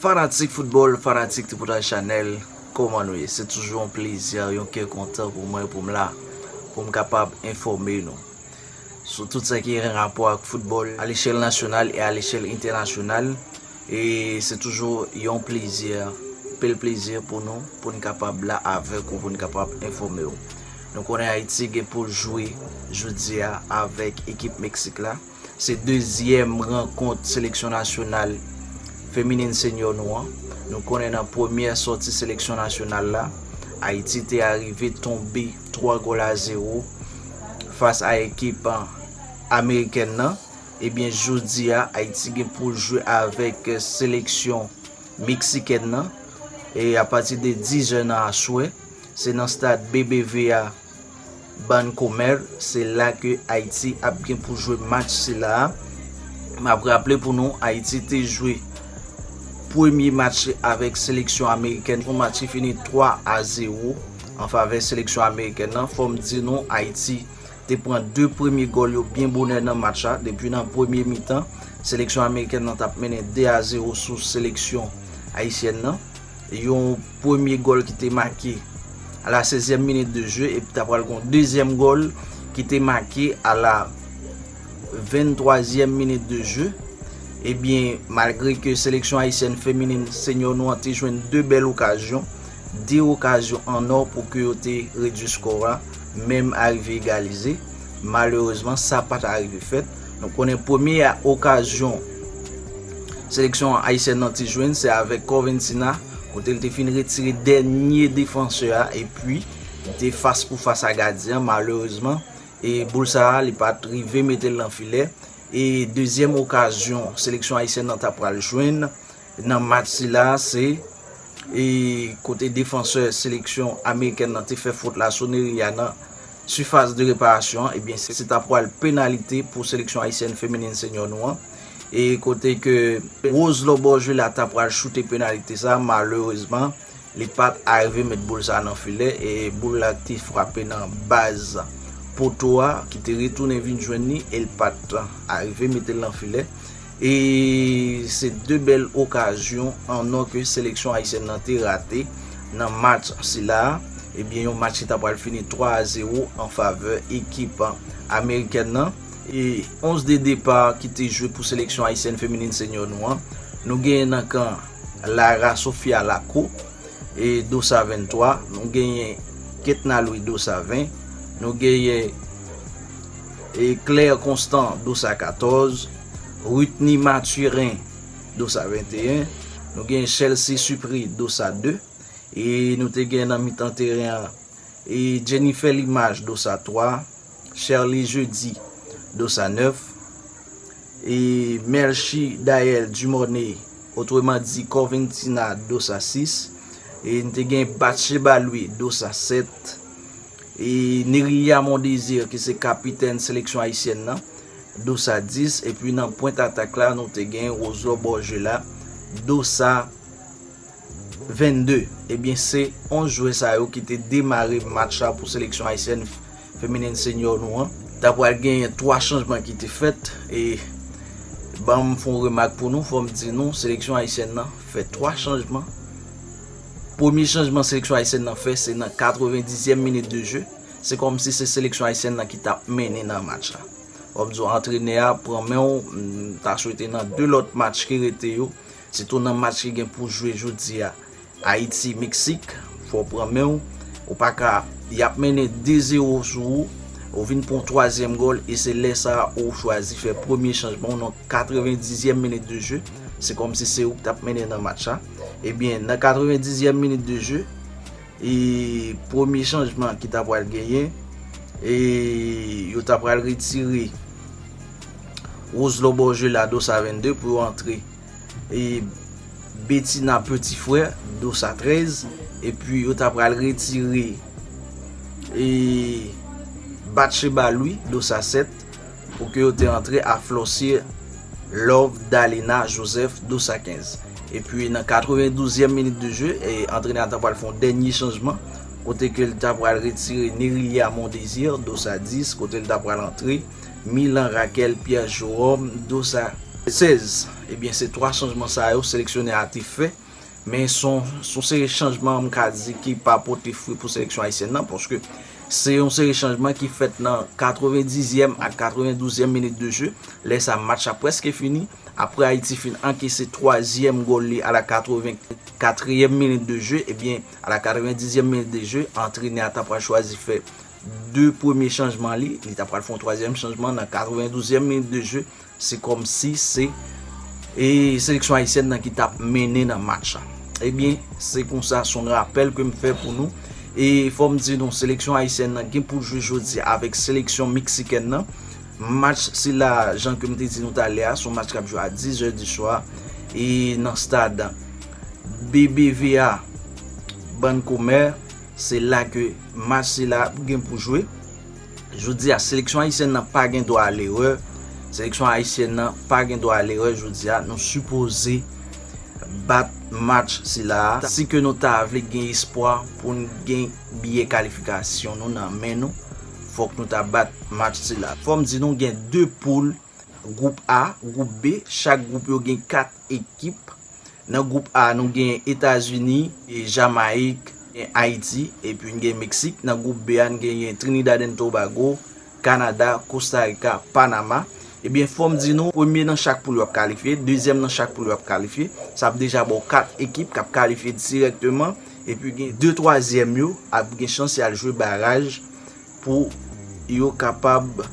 Fanatik football, fanatik Tripotay Chanel, koman nou ye? Se toujou yon plezi, yon kè kontan pou mwen pou m la, pou m kapab enfòme nou sou tout sa ki gen rapò ak football a lechèl nasyonal e a lechèl entènasyonal e se toujou yon plezi, anpil plezi pou nou pou n kapab la avèk ou pou n kapab enfòme ou. Nou konnen Ayiti gen pou l jwe jodi a avèk ekip Meksik la. Se dezyèm rankont seleksyon nasyonal feminin senyò nou an. Nou konnen nan premyè sòti seleksyon nasyonal la, Ayiti te arive tonbe 3 gòl a 0 fas a ekip amerikèn nan. Ebyen jodi a, Ayiti gen pou l jwe avèk seleksyon meksikèn nan e apati de 10 è nan aswè. Se nan stad BBVA. Bann komè, se la ke Ayiti ap gen pou jwe match sila a. M ap raple pou nou, Ayiti te jwe premye match li avèk seleksyon amerikèn, yon match ki fini 3 a 0 an favè seleksyon amerikèn nan. Fò m di nou, Ayiti te pran 2 premye gòl yo byen bonè nan match la. Depi nan premye mitan, seleksyon amerikèn nan t ap mennen 2 a 0 sou seleksyon ayisyèn nan. Yon premye gòl ki te make a la sezyèm minit de jeu epi ta pral gon dezyèm gòl ki te make a la venntwazyèm minit de jeu. Ebyen malgre ke seleksyon ayisyèn feminin senyor nou an te jwenn 2 bèl okazyon, 2 okazyon an nò pou ke yo te redui skò a menm arive egalize, malerezman sa pa ta rive fèt. Nou konnen premye a okazyon seleksyon Ayisyèn nan te jwenn se avèk Corventina kote l te fin retire dènye defansè a epi li te fas pou fas a gadyen malerezman e boul sa a li pat rive mete l nan filè e dezyèm okazyon seleksyon Ayisyèn nan ta pral jwenn Nan match sila a se e kote defansè seleksyon amerikèn nan te fè fot la sou Nery a nan sifas de reparasyon an ebyen se ta pwal penalite pou seleksyon ayisyèn feminin senyò nou an e kote ke Rose Loborjula ta pwal choute penalite sa a malerezman li pat arive met boul sa a nan filè e boul la te frape nan baz poto a ki te retounen vin jwenn li el pat arive metel nan filè E se 2 bèl okazyon an or ke seleksyon ayisyèn nan te rate nan match sila a. Ebyen yon match ki ta pral fini 3 a 0 an favè ekip amerikèn nan. E 11 de depa ki te jwe pou seleksyon ayisyèn feminin senyò nou an, nou genyen nan kan Lara Sofia Laco e Dossa 23, nou genyen Ketna Louis Dossa 20, nou genyen. Claire Constant, dosa 14, Rutny Mathurin, dosa 21, nou gen Chelsea Supri, dosa 2, e nou te gen nan mitan teren an, e Jennifer Limage, dosa 3, Sherley Jeudi, dosa 9, e Melchie Daelle Dumornay, otreman di Corventina, dosa 6, e nou te gen Bathsheba Louis, dosa 7, Neria Mondésir ki se kapitèn seleksyon ayisyèn nan, dosa 10, epi nan pwent atak la nou te gen Roselot Borgela, dosa 22. Ebyen se 11 jwè sa yo ki te demare match la pou seleksyon ayisyèn feminen senior nou an. Ta pral genyen 3 chanjman ki te fèt e banm fon remak pou nou, fòm di nou seleksyon ayisyèn nan fè 3 chanjman. Premye chanjman seleksyon ayisyèn nan fè se nan 90 zyèm minit de je, se kòmsi se seleksyon ayisyèn nan ki tap mennen nan match la. Wap di w antrenè a pran men w, m ta swete nan 2 lòt match ki rete yo, sitou nan match ki gen pou jwe jodi a, Ayiti, Meksik, fò w pran men w, ou pa ka, yap mennen 2 zero sou ou, ou vin pran w twazyèm gòl e se lè sa ou chwazi fè premye chanjman w nan 90 zyèm minit de je, se kòmsi se ou ki tap mennen nan match la. Ebyen nan 90 yèm minit de je e premye chanjman ki ta pral genyen e yo ta pral retire Roselot Borgé la dosa 22 pou yo antre e Betina Petit Frère dosa 13 epi yo ta pral retire e Batcheba Louis dosa 7. Pou ke yo te antre a Flossie Love Dalina Joseph Dous a 15. Epi nan 92 yèm minit de jeu, antrenè a ta pral fè yon dènye chanjman kote ke li ta pral retire Nérilia Mondésir Dous a 10 kote li ta pral antre Milan Raquel Pierre Jorome Dous a 16. Ebyen se 3 chanjman sa yo seleksyonè a te fè. Men son son seri chanjman m ka di ki pa pote fwi pou seleksyon ayisyèn nan paske se yon seri chanjman ki fèt nan 90 zyèm ak 92 zyèm minit de je lè sa match la preske fini apre Ayiti fin ankese 3 zyèm gòl li a la 84 ryèm minit de je ebyen a la 90 zyèm minit de je antrenè a ta pral chwazi fè 2 premye chanjman li li ta pral fon 3 zyèm chanjman nan 92 zyèm minit de je Se kòmsi se e seleksyon ayisyèn nan ki tap mennen nan match la. Ebyen, se konsa son rapèl ke m fè pou nou. E fò m di nou, seleksyon ayisyèn nan gen pou jwe jodi a avèk seleksyon meksikèn nan. Match sila a, jan ke m te di nou talè a, son match kap jwe a 10 è di swa e nan stad BBVA Bancomer. Se la ke match sila ap gen pou jwe. Jodi a, seleksyon ayisyèn nan pa gen dwa a lerè, seleksyon ayisyèn nan pa gen dwa a lerè jodi a, nou sipoze bat match sila a si ke nou ta vle gen espwa poun gen biyè kalifikasyon nou nan men nou fòk nou ta bat match sila. Fòm di nou gen 2 poul Gwoup A, Gwoup B, chak gwoup yo gen 4 ekip. Nan gwoup A nou gen Etazini, Jamayik, Ayiti epi n gen Meksik. Nan gwoup B a n genyen Trinidad and Tobago, Kanada, Kosta Rika, Panama. Ebyen fò m di nou premye nan chak poul yo ap kalifye, dezyèm nan chak poul yo ap kalifye. Sa ap deja ba w 4 ekip k ap kalifye dirèkteman epi gen 2 twazyèm yo ap gen chans y al jwe baraj. pou yo kapab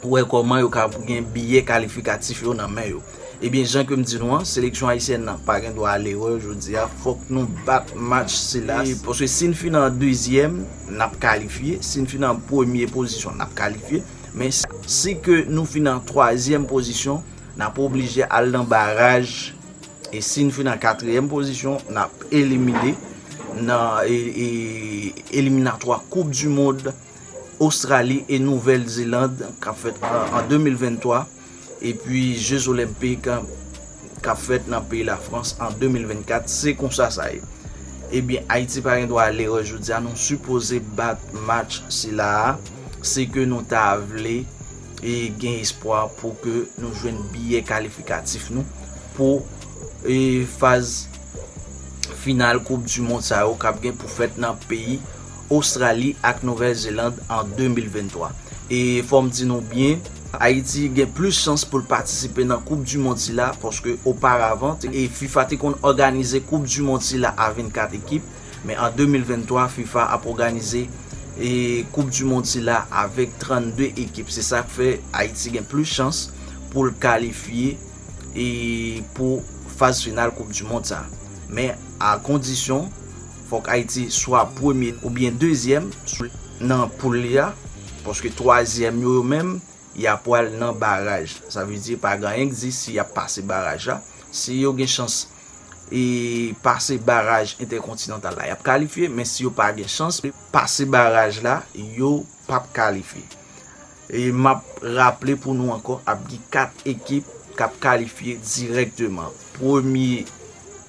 wè kòman yo ka gen biyè kalifikatif yo nan men yo. Ebyen jan ke m di nou an, seleksyon ayisyèn nan pa gen dwa ale erè jodi a, fòk nou bat match sila, paske si n fin nan dezyèm, n ap kalifye, si n fin nan premye pozisyon, n ap kalifye, men si ke nou fin nan twazyèm pozisyon, n ap oblije al nan baraj. E si n fin an katriyèm pozisyon, n ap elimine nan eliminatwa koup di mond Ostrali e Nouvèl Zeland k ap fèt an 2023 epi je zolenpik k ap fèt nan peyi Lafrans an 2024. Se konsa sa ye. Ebyen Ayiti pa gen dwa ale erè jodi a. Nou sipoze bat match sila a. Se ke nou ta vle. e gen espwa pou ke nou jwenn biyè kalifikatif nou pou e faz final koup du mond sa yo kap gen pou fèt nan peyi Ostrali ak Nouvèl Zeland an 2023. E fòm di nou byen, Ayiti gen plis chans poul patisipe nan koup du mond sila paske oparavan e fifa te konn òganize koup du mond sila a 24 ekip, Men an 2023 fifa ap oganize koup du mond sila avek 32 ekip se sak fe Ayiti gen plus chans poul kalifye pou faz final koup du mond sa men a kondisyon fok Ayiti swa premye ou byen dezyem nan poul li a paske twazyem yo yo menm ya pwal nan baraj sa vle di pa gen anyen k di si yap pase baraj la si yo gen chans e pase baraj entèkontinantal la yap kalifye men si yo pa gen chans pase baraj la yo pap kalifye e map raple pou nou ankò ap gen 4 ekip kap kalifye dirèkteman premye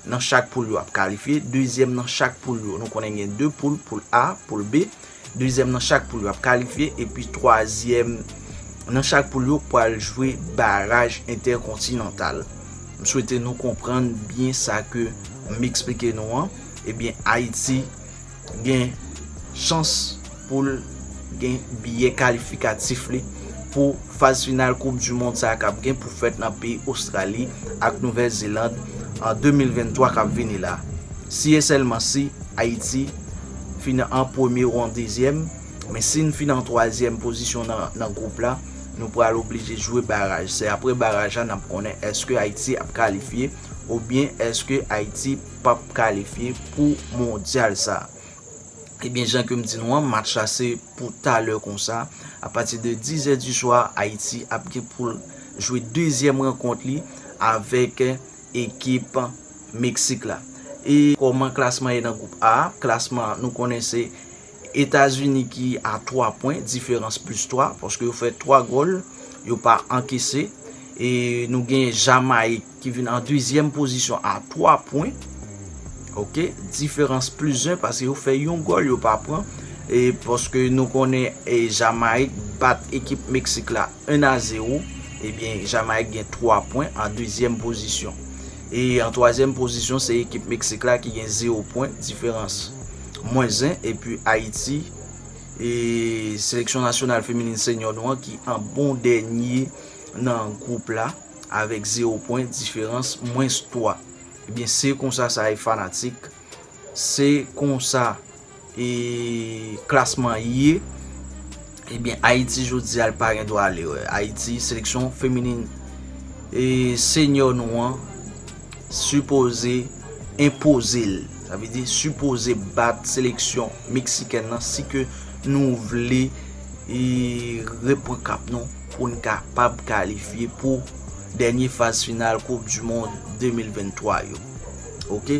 nan chak poul yo ap kalifye dezyèm nan chak poul yo nou konnen gen 2 poul, poul A, poul B. Dezyèm nan chak poul yo ap kalifye epi twazyèm nan chak poul yo pral jwe baraj entèkontinantal. M swete nou konprann byen sa ke m eksplike nou an. Ebyen Ayiti gen chans pou l gen biyè kalifikatif li pou faz final koup du mond sa k ap gen pou fèt nan peyi Ostrali ak Nouvèl Zeland an 2023 k ap vini la. Si e sèlman si Ayiti fin an premye ou an dezyèm, men si n fin an twazyèm pozisyon nan gwoup la, nou pral oblije jwe baraj. Se apre baraj la n ap konnen èske Ayiti ap kalifye oubyen èske Ayiti p ap kalifye pou mondyal sa. Ebyen jan ke m di nou an, match la se pou talè konsa, apati de dizè diswa Ayiti ap gen pou l jwe dezyèm rankont li avèk. ekip Meksik la. E kòman klasman ye nan gwoup A? Klasman an nou konnen se Etazini ki a 3 pwen, diferans plis 3, paske yo fè 3 gòl, yo pa ankese. E nou gen Jamayik ki vin an dezyèm pozisyon a 3 pwen. Ok, diferans plis 1, paske yo fè yon gòl, yo pa pran. E paske nou konnen Jamayik bat ekip Meksik la. 1 a 0, ebyen Jamayik gen 3 pwen an dezyèm pozisyon. E an twazyèm pozisyon se ekip Meksik la ki gen 0 pwen, diferans mwens 1, epi Ayiti, seleksyon nasyonal feminin senyò nou an ki an bon dènye nan gwoup la avèk 0 pwen, diferans mwens 3. Ebyen se konsa sa ye fanatik, se konsa. E klasman ye Ebyen Ayiti jodi a li pa gen dwa ale wè Ayiti seleksyon feminin E senyò nou an Sipoze Enpoze l Sa vle di sipoze bat seleksyon Meksikèn nan si ke nou vle E repran kap nou Pou n kapab kalifye pou Dènye faz final koup du mond 2023 yo Ok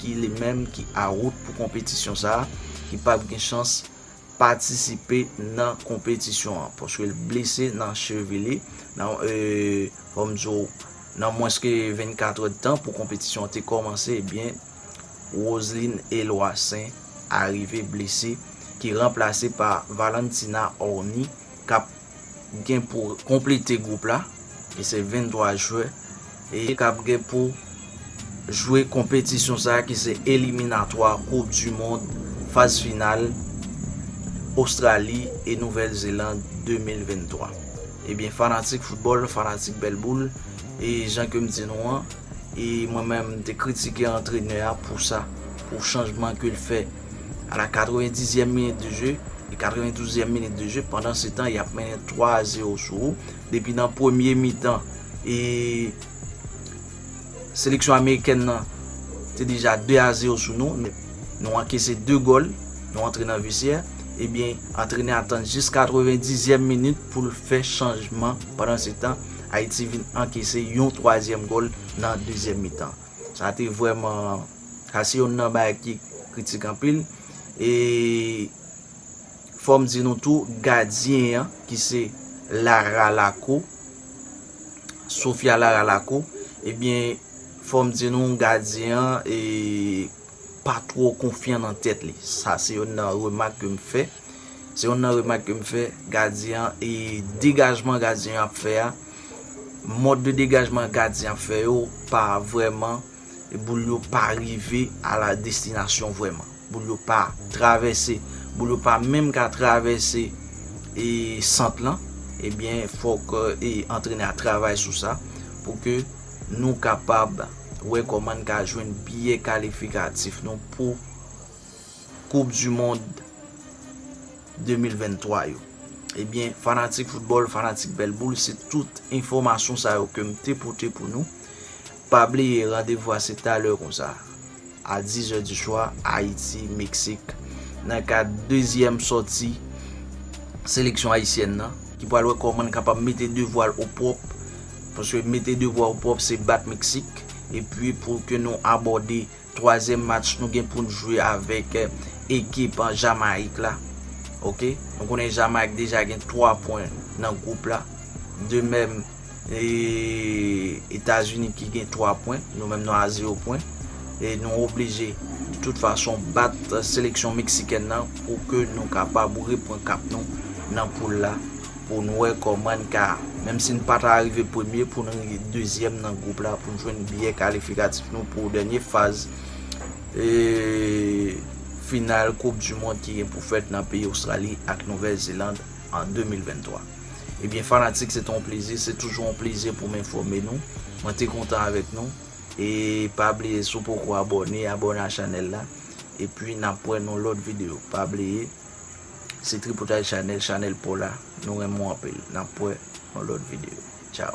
ki li menm ki awout pou konpetisyon sa a, ki p ap gen chans patisipe nan konpetisyon an, paske l blese nan chevi li, nan fò m di w nan mwens ke 24 èdtan pou konpetisyon an te kòmanse, ebyen Roseline Eloissaint arive blese, ki ranplase pa Valentina Orny k ap gen pou konplete gwoup la e se 23 jwè e k ap gen pou jwe konpetisyon sa ki se eliminatwa koup du mond faz final Ostrali e Nouvèl Zeland 2023 ebyen fanatik foutbòl fanatik bèl boul e jan ke m di nou an e mwen menm m te kritike antrenè a pou sa pou chanjman ke l fè. a la 90 zièm minit de jeu e 92 zièm minit de jeu pandan se tan yap mennen 3 a 0 sou ou depi nan premye mitan e seleksyon amerikèn nan te deja 2 a 0 sou nou nou ankese 2 gòl nou antre nan vesyè ebyen antrenè a tann jis 90 zièm minit pou l fè chanjman pandan se tan Ayiti vin ankese yon 3 zièm gòl nan 2 zièm mitan. Sa te vrèman, sa se yonn nan bagay ki kritik anpil. E fò m di nou tou, gadyen an ki se Lara Lako, Sofia Lara Lako, ebyen fò m di nou gadyen an e pa twò konfyan nan tèt li. Sa se yonn nan remak ke m fè. Se yonn nan remak ke m fè. Gadyen an e degajman gadyen an ap fè a. Mòd de degajman gadyen an ap fè yo pa vrèman boul yo pa rive a la destinasyon vrèman. Boul yo pa travèse. Boul yo pa menm ka travèse e sant lan. Ebyen fòk e antrenè a travay sou sa pou ke. nou kapab wè kòman n ka jwenn biyè kalifikatif nou pou koup du mond 2023 yo. Ebyen fanatik foutbòl, fanatik bèl boul se tout enfòmasyon sa yo ke m te pote pou nou. Pa bliye randevou a se talè konsa. a 10 zè di swa, Ayiti, Meksik, nan kad dezyèm sòti seleksyon ayisyèn nan. Ki pral wè kòman li kapab mete devwa l opwòp, paske mete devwa opwòp se bat Meksik, epi pou ke nou abòde twazyèm match nou gen pou n jwe avèk ekip Jamayik la. Ok, nou konnen Jamayik deja gen 3 pwen nan gwoup la, de mèm E Etazini ki gen 3 pwen, nou menm nou a 0 pwen. E nou oblije de tout fason bat seleksyon Meksikèn nan pou ke nou kapab repran kap nou nan poul la pou nou wè kòman n ka, menm si n pa ta rive premye, pou nou rive dezyèm nan gwoup la pou n jwenn biyè kalifikatif nou pou dènye faz final koup du mond ki gen pou fèt nan peyi Ostrali ak Nouvèl Zeland an 2023. Ebyen fanatik se te yon plezi, se toujou yon plezi pou m enfòme nou. Mwen te kontan avèk nou. E pa bliye si w poko abòne, abòne a chanèl la. E pi n ap wè nan lòt videyo. Pa bliye se Tripotay Chanèl, chanèl pa w la. Nou renmen w anpil. N ap wè nan lòt videyo. Tchaw!